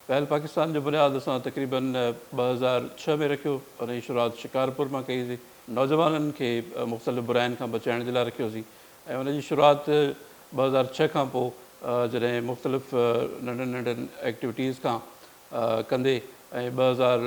پهل پاڪستان جو بنياد اسان تقريباً ٻه هزار ڇهه ۾ رکيو، ان جي شروعات شڪارپور مان ڪئي هئسي، نوجوانن کي مختلف براين کان بچائڻ جي لاء رکيو هئسي ۽ ان جي شروعات ٻه هزار ڇهه کان پوء جڏهن مختلف ننڍن ننڍن ايڪٽيوٽيز کان ڪندي ۽ ٻه هزار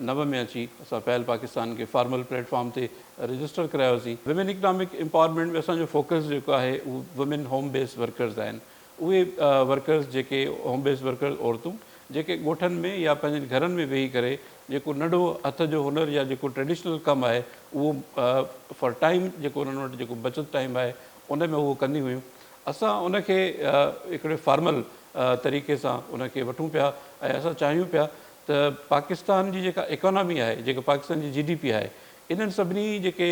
نو ۾ اچي اسان پهل پاڪستان کي فارمل پليٽ فارم تي رجسٽر ڪرايوسين. وومين اڪنامڪ امپاورمينٽ ۾ اسان جو فوڪس جيڪو آهي اهو وومين هوم بيس ورڪرز آهن. اهي ورڪرز جيڪي هوم بيس ورڪرز عورتون جيڪي ڳوٺن ۾ يا پنهنجن گهرن ۾ ويهي ڪري جيڪو ننڍو هٿ جو هنر يا جيڪو ٽريڊيشنل ڪم آهي اهو فار ٽائيم جيڪو انهن وٽ جيڪو بچت ٽائيم آهي ان ۾ هو ڪنديون هيون اسان ان کي هڪڙي فارمل طريقي سان ان کي وٺون پيا ۽ اسان چاهيون پيا ته پاڪستان جي جيڪا اڪانامي آهي جيڪا پاڪستان جي جي ڊي پي آهي انهن سڀني جيڪي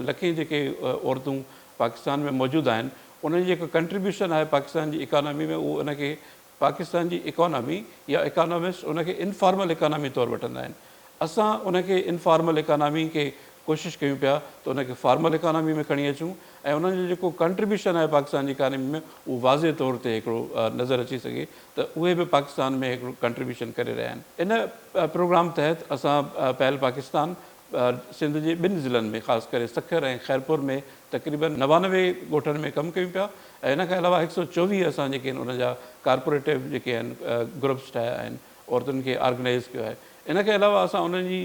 لکين جيڪي عورتون پاڪستان ۾ موجود آهن انهن جي جيڪا ڪنٽريبيوشن آهي پاڪستان جي اڪانامي ۾ اهو ان کي پاڪستان جي اڪانامي يا اڪانامسٽ ان کي انفارمل اڪانامي طور وٺندا آهن. اسان ان کي انفارمل اڪانامي کي ڪوشش ڪيون پيا ته ان کي فارمل اڪانامي ۾ کڻي اچون ۽ انهن جو جيڪو ڪنٽريبيوشن آهي پاڪستان جي اڪانامي ۾ اهو واضح طور تي هڪڙو نظر اچي سگهي ته اهي به پاڪستان ۾ هڪڙو ڪنٽريبيوشن ڪري رهيا آهن. ان پروگرام تحت اسان پهل پاڪستان، سنڌ جي ٻن ضلعن ۾ خاص ڪري سکر ۽ خيرپور ۾ تقريبن نوانوي ڳوٺن ۾ ڪم ڪيون پيا ۽ ان کان علاوه هڪ سؤ چوويهه اسان جيڪي ان جا ڪارپوريٽو جيڪي آهن گروپس ٺاهيا آهن عورتن کي آرگنائز ڪيو آهي ان کان علاوه اسان انهن جي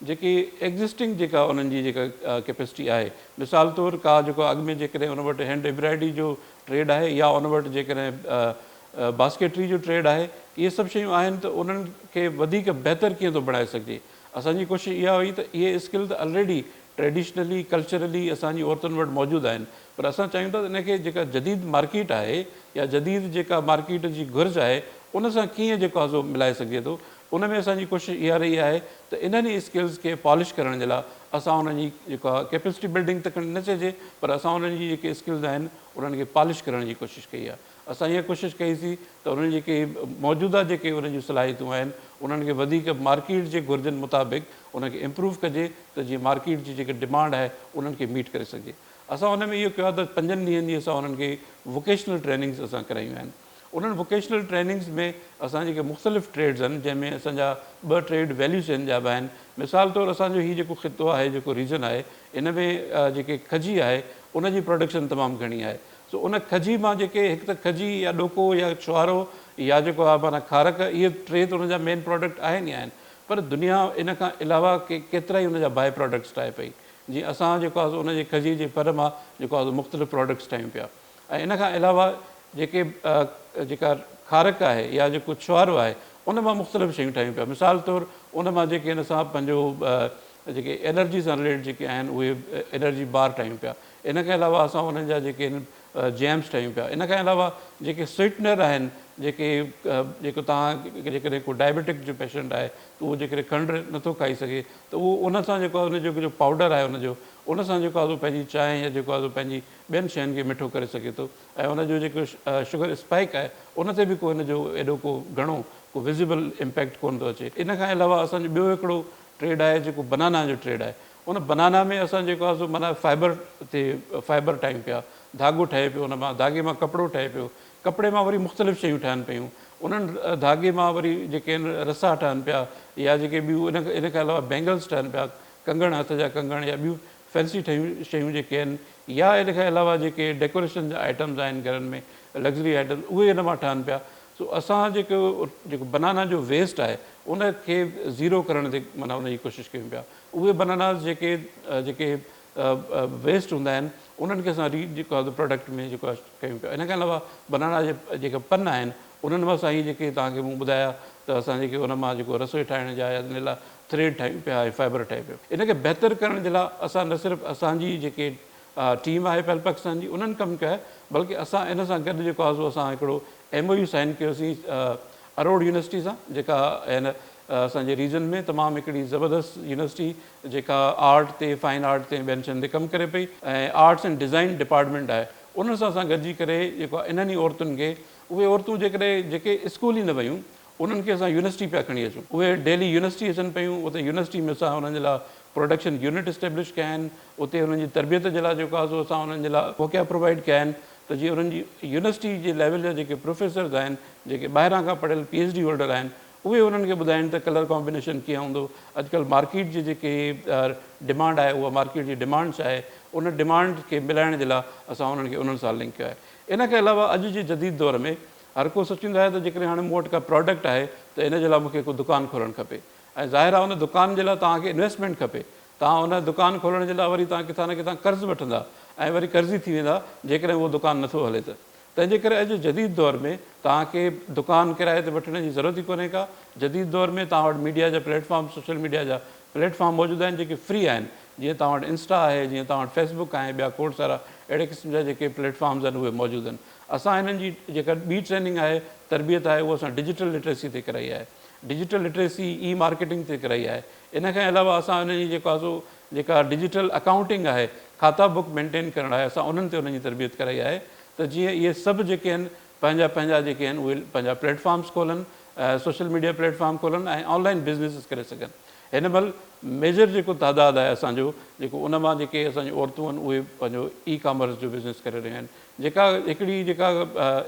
جيڪي ايگزسٽنگ جيڪا انهن جي جيڪا ڪيپيسٽي آهي مثال طور ڪا جيڪو اڳ ۾ جيڪڏهن ان وٽ هينڊ ايمبرائڊري جو ٽريڊ آهي يا ان وٽ جيڪڏهن باسڪيٽري جو ٽريڊ آهي اهي سڀ شيون آهن ته انهن کي وڌيڪ بهتر ڪيئن ٿو بڻائي سگهجي اسان جي ڪوشش اها هئي ته اهي اسڪل ته الريڊي ٽريڊيشنلي ڪلچرلي اسان جي عورتن وٽ موجود آهن پر اسان چاهيون ٿا ته ان کي جيڪا جديد مارڪيٽ آهي يا جديد جيڪا مارڪيٽ جي گهرج آهي ان سان ڪيئن جيڪو آهي سو ملائي سگهجي ٿو ان ۾ اسان جي ڪوشش اها رهي آهي ته انهن ئي اسڪلز کي پالش ڪرڻ جي لاء اسان انهن جي جيڪو آهي ڪيپسٽي بلڊنگ ته کڻي نه چئجي پر اسان انهن جي جيڪي اسڪلز آهن انهن کي پالش ڪرڻ جي ڪوشش ڪئي آهي اسان اها ڪوشش ڪئي سي ته انهن جيڪي موجوده جيڪي انهن جون صلاحيتون آهن انهن کي وڌيڪ مارڪيٽ جي گهرجن مطابق انهن کي امپروو ڪجي ته جيئن مارڪيٽ جي جيڪي ڊمانڊ آهي انهن کي ميٽ ڪري سگهجي اسان ان ۾ اهو ڪيو آهي ته پنجن ڏينهن جي اسان انهن کي ووڪيشنل ٽريننگز اسان ڪرايون آهن انهن ووڪيشنل ٽريننگز ۾ اسان جيڪي مختلف ٽريڊز آهن جنهن ۾ اسان جا ٻه ٽريڊ ويليو چين جا به آهن مثال طور اسان جو هي جيڪو خطو آهي جيڪو ريجن آهي ان ۾ جيڪي کجي آهي ان جي پروڊڪشن تمام گهڻي آهي سو ان کجي مان جيڪي هڪ ته کجي يا ڏوڪو يا ڇوهارو يا جيڪو آهي معنيٰ کارڪ اهي ٽي ته ان جا مين پراڊڪٽ آهن ئي آهن پر دنيا ان کان علاوه ڪي ڪيترائي ان جا باء پراڊڪٽس ٺاهي پئي جيئن اسان جيڪو آهي سو ان جي کجي جي ڦر مان جيڪو آهي سو مختلف پراڊڪٽس ٺاهيون پيا ۽ ان کان علاوه جيڪي جيڪا کارڪ آهي يا جيڪو ڇوهارو آهي ان مان مختلف شيون ٺاهيون پيا مثال طور ان مان جيڪي ان سان پنهنجو جيڪي الرجي سان رليٽيڊ جيڪي آهن اهي الرجي بار ٺاهيون پيا ان کان علاوه اسان انهن جا جيڪي آهن جيمس ٺاهيون پيا ان کان علاوه جيڪي سوئيٽنر آهن جيڪي جيڪو توهان جيڪڏهن ڪو ڊائبيٽڪ جو پيشنٽ آهي ته اهو جيڪڏهن کنڊ نٿو کائي سگهي ته اهو ان سان جيڪو ان جو جو پائوڊر آهي ان جو ان سان جيڪو آهي پنهنجي چانهه يا جيڪو آهي پنهنجي ٻين شين کي مٺو ڪري سگهي ٿو ۽ ان جو جيڪو شگر اسپائڪ آهي ان تي به ڪو ان جو ايڏو ڪو گهڻو ڪو وزيبل امپيڪٽ ڪونه ٿو اچي ان کان علاوه اسان جو ٻيو هڪڙو ٽريڊ آهي جيڪو بنانا جو ٽريڊ آهي ان بنانا ۾ اسان جيڪو آهي سو معنيٰ فائبر تي فائبر ٺاهيون پيا، ڌاڳو ٺهي پيو ان مان، ڌاڳي مان ڪپڙو ٺهي پيو، ڪپڙي مان وري مختلف شيون ٺهن پيون، انهن ڌاڳي مان وري جيڪي آهن رسا ٺهن پيا يا جيڪي ٻيون ان کان علاوه بينگلز ٺهن پيا، ڪنگڻ هٿ جا ڪنگڻ يا ٻيون فينسي ٺهيون شيون جيڪي آهن يا ان کان علاوه جيڪي ڊيڪوريشن جا آئٽمز آهن گهرن ۾ لگزري آئٽمز اهي ان مان ٺهن پيا سو اسان جيڪو جيڪو بنانا جو ويسٽ آهي ان کي زيرو ڪرڻ تي معنيٰ ان جي ڪوشش ڪيون پيا. اهي بناناز جيڪي جيڪي ويسٽ هوندا آهن انهن کي اسان ري جيڪو آهي پروڊڪٽ ۾ جيڪو آهي ڪيون پيا ان کان علاوه بنانا جي جيڪا پن آهن انهن مان سائين جيڪي تان کي مون ٻڌايا ته اسان جيڪي ان مان جيڪو رسوئي ٺاهڻ جا ان لاء ٿريڊ ٺاهيون پيا ۽ فائبر ٺاهيون پيا ان کي بهتر ڪرڻ جي لاء اسان نه صرف اسان جي جيڪي ٽيم آهي پهل پاڪستان جي انهن ڪم ڪيا بلڪه اسان ان سان گڏ جيڪو آزو اسان هڪڙو ايم او يو سائين ڪيوسين اروڙ يونيورسٽي سان جيڪا هن اسان جي ريجن ۾ تمام هڪڙي زبردست يونيورسٽي جيڪا آرٽ تي فائن آرٽ تي ٻين شين تي ڪم ڪري پئي ۽ آرٽس اينڊ ڊيزائن ڊپارٽمينٽ آهي انهن سان اسان گڏجي ڪري جيڪو انهن ئي عورتن کي اهي عورتون جيڪڏهن جيڪي اسڪول ئي نه ويون انهن کي اسان يونيورسٽي پيا کڻي اچون. اهي ڊيلي يونيورسٽي اچن پيون. اتي يونيورسٽي ۾ اسان انهن جي لاء پروڊڪشن يونٽ اسٽيبلش ڪيا آهن. اتي انهن جي تربيت جي لاء جيڪو آهي سو اسان انهن جي لاء موقعا پرووائيڊ ڪيا آهن ته جيئن انهن جي يونيورسٽي جي ليول جا جيڪي پروفيسرز آهن، جيڪي ٻاهران کان پڙهيل پي ايڇ ڊي هولڊر آهن، اهي انهن کي ٻڌائين ته ڪلر ڪامبينيشن ڪيئن هوندو. اڄڪلهه مارڪيٽ جي جيڪي ڊمانڊ آهي اها مارڪيٽ جي ڊمانڊ ڇا آهي. ان ڊمانڊ کي ملائڻ جي لاء اسان انهن کي انهن سان لنڪ ڪيو آهي. ان کان علاوه اڄ جي جديد دور ۾ هر ڪو سوچيندو آهي ته جيڪڏهن هاڻي مون وٽ ڪا پراڊڪٽ آهي ته ان جي لاء مون کي ڪو دڪان کولڻ کپي ۽ ظاهر آهي ان دڪان جي لاء توهان کي انويسٽمينٽ کپي توهان ان دڪان کولڻ جي لاء وري توهان ڪٿان نه ڪٿان قرض وٺندا ۽ وري قرضي ٿي ويندا جيڪڏهن اهو دڪان نٿو هلي ته تنهن جي ڪري اڄ جي جديد دور ۾ توهان کي دڪان ڪرائي تي وٺڻ جي ضرورت ئي ڪونهي ڪا جديد دور ۾ توهان وٽ ميڊيا جا پليٽ فارم سوشل ميڊيا جا پليٽ فارم موجود آهن جيڪي فري آهن جيئن توهان وٽ انسٽا آهي جيئن توهان وٽ فيس بڪ آهي ٻيا کوڙ سارا اهڙي قسم جا جيڪي پليٽ فارمز آهن اهي موجود آهن اسان هنن جي جيڪا ٻي ٽريننگ آهي، تربيت آهي اها اسان ڊجيٽل لٽريسي تي ڪرائي آهي. ڊجيٽل لٽريسي، اي مارڪيٽنگ تي ڪرائي آهي. ان کان علاوه اسان هنن جي جيڪو آهي سو جيڪا ڊجيٽل اڪائونٽنگ آهي، کاتا بوڪ مينٽين ڪرڻ آهي اسان انهن تي انهن جي تربيت ڪرائي آهي ته جيئن اهي سڀ جيڪي آهن پنهنجا پنهنجا جيڪي آهن اهي پنهنجا پليٽ فارمز کولن سوشل ميڊيا پليٽ فارم کولن ۽ آن لائن بزنيسز ڪري سگهن. هن مهل ميجر جيڪو تعداد آهي اسان جو جيڪو ان مان جيڪي اسان جون عورتون آهن اهي پنهنجو اي ڪامرس جو بزنيس ڪري رهيون آهن. جيڪا هڪڙي جيڪا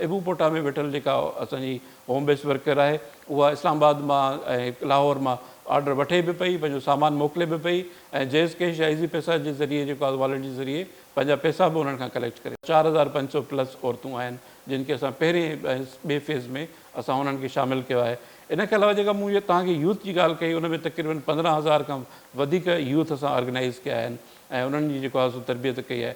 ابو پوٽا ۾ ويٺل جيڪا اسان جي هوم بيس ورڪر آهي اها اسلام آباد مان ۽ لاهور مان آرڊر وٺي به پئي پنهنجو سامان موڪلي به پئي ۽ جيز ڪيش يا ايزي پيسا جي ذريعي جيڪو آهي واليٽ جي ذريعي پنهنجا پيسا به انهن کان ڪليڪٽ ڪري چار هزار پنج سؤ پلس عورتون آهن جن کي اسان پهرين ٻئي فيز ۾ اسان انهن کي شامل ڪيو آهي ان کان علاوه جيڪا مون توهان کي يوٿ جي ڳالهه ڪئي ان ۾ تقريبن پندرهن هزار کان وڌيڪ يوٿ اسان آرگنائيز ڪيا آهن ۽ انهن جي جيڪو آهي سو تربيت ڪئي آهي.